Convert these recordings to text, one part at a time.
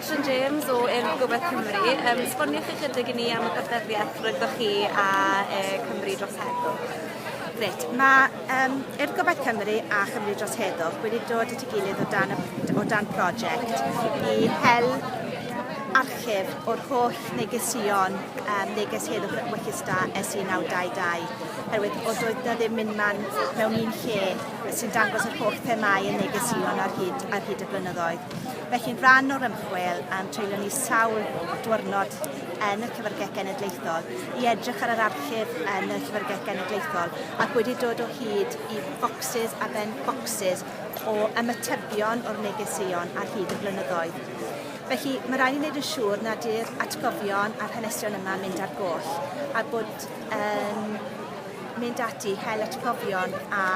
Catrin James o Urdd Gobaith Cymru. Um, sboniwch ychydig i ni am y partneriaeth rhwyddo chi a e, Cymru dros Heddwch. Gret. Mae um, Urdd Gobaith Cymru a Chymru Dros Heddwch wedi dod at ei gilydd o dan, o dan prosiect i hel archif o'r holl negesion um, neges heddwch yn Wechista SE922 herwydd o doedd na ddim mynd man mewn un lle sy'n dangos yr holl themau yn negesion ar hyd, ar hyd y blynyddoedd. Felly, rhan o'r ymchwil a'n treulio ni sawl diwrnod yn y Llyfrgell Genedlaethol i edrych ar yr archif yn y Llyfrgell Genedlaethol ac wedi dod o hyd i focsys a ben focsys o ymatebion o'r negeseuon ar hyd y blynyddoedd. Felly, mae rhaid i wneud yn siŵr nad yw'r atgofion a'r hanesion yma mynd ar goll a bod yn mynd ati i hel atgofion a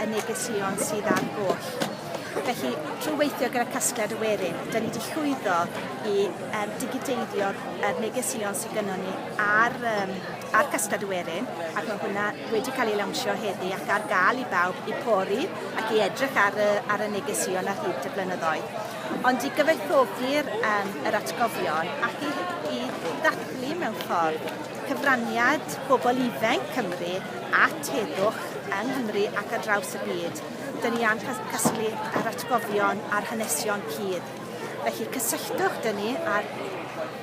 y negeseuon sydd ar goll. Felly, trwy weithio gyda casgliad y werin, dyn ni wedi llwyddo i um, digiteiddio'r er negeseuon sydd gynnwn ni ar, um, ar casgliad y werin, ac mae hwnna wedi cael ei lawnsio heddi ac ar gael i bawb i pori ac i edrych ar y, ar y negeseuon ar hyd y blynyddoedd. Ond i gyfoethogi'r um, yr atgofion ac i, i ddathlu mewn ffordd cyfraniad bobl ifainc Cymru at heddwch yng Nghymru ac ar draws y byd. Dyn ni am casglu yr atgofion a'r hanesion cudd. Felly cysylltwch dyn ni ar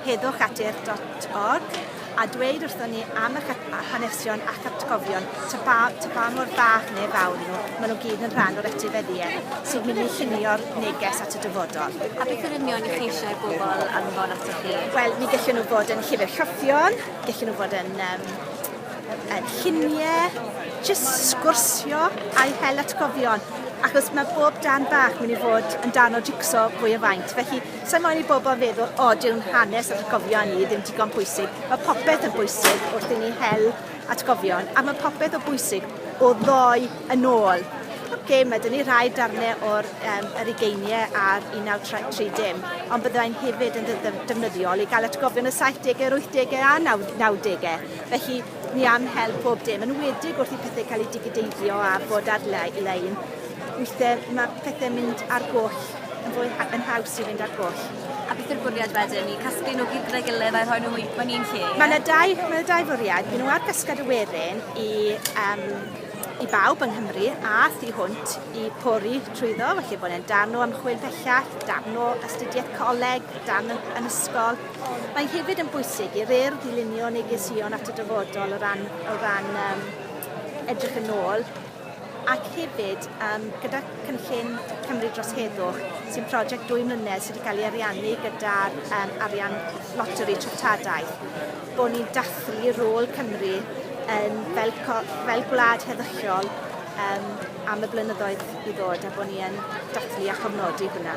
heddwchatur.org a dweud wrthon ni am y hanesion ac atgofion, ta ba, ta ba mor fach neu fawr nhw, maen nhw gyd yn rhan o'r etifeddiaeth sy'n mynd i llunio'r neges at y dyfodol. A beth yn union i chi eisiau i bobl anfon atoch chi? Wel, mi gallwn nhw fod yn llyfr rhyffion, gallwn nhw fod yn um, yn lluniau, jyst sgwrsio a'i hel atgofion. Achos mae bob dan bach mynd i fod yn dan o jigso fwy o faint. Felly, sa'n moyn i bobl feddwl, o, dyw'n hanes a atgofion ni ddim digon pwysig. Mae popeth yn bwysig wrth i ni hel atgofion, a mae popeth o bwysig o ddoi yn ôl. Pob gêm mae dyn ni rhai darnau o'r um, yr ugeiniau a'r 1930, ond byddai'n hefyd yn defnyddiol i gael atgofion y 70au, yr 80au a 90au. Felly ni am hel pob dim, yn wedig wrth i pethau cael eu digideiddio a bod ar-lein. Weithiau mae pethau'n mynd ar goll yn fwy yn haws i fynd ar goll. A beth yw'r bwriad wedyn? I casglu nhw gyd gyda'i gilydd a rhoi nhw mewn un lle? Mae yna dau, mae yna dau fwriad. Mae nhw ar gysgad y werin i um, i bawb yng Nghymru a thu hwnt i pori trwyddo, felly bod e'n darn o ymchwil pellach, darn o astudiaeth coleg, darn yn, yn ysgol. Mae hefyd yn bwysig i'r urdd ddilunio negeseuon at y dyfodol o ran, o ran um, edrych yn ôl ac hefyd um, gyda cynllun Cymru dros Heddwch sy'n prosiect dwy mlynedd sydd wedi cael ei ariannu gyda'r um, arian loteri treftadaeth. bod ni'n dathlu rôl Cymru yn fel, fel gwlad heddychiol um, am y blynyddoedd i ddod a bod ni yn dathlu a chofnodi hwnna.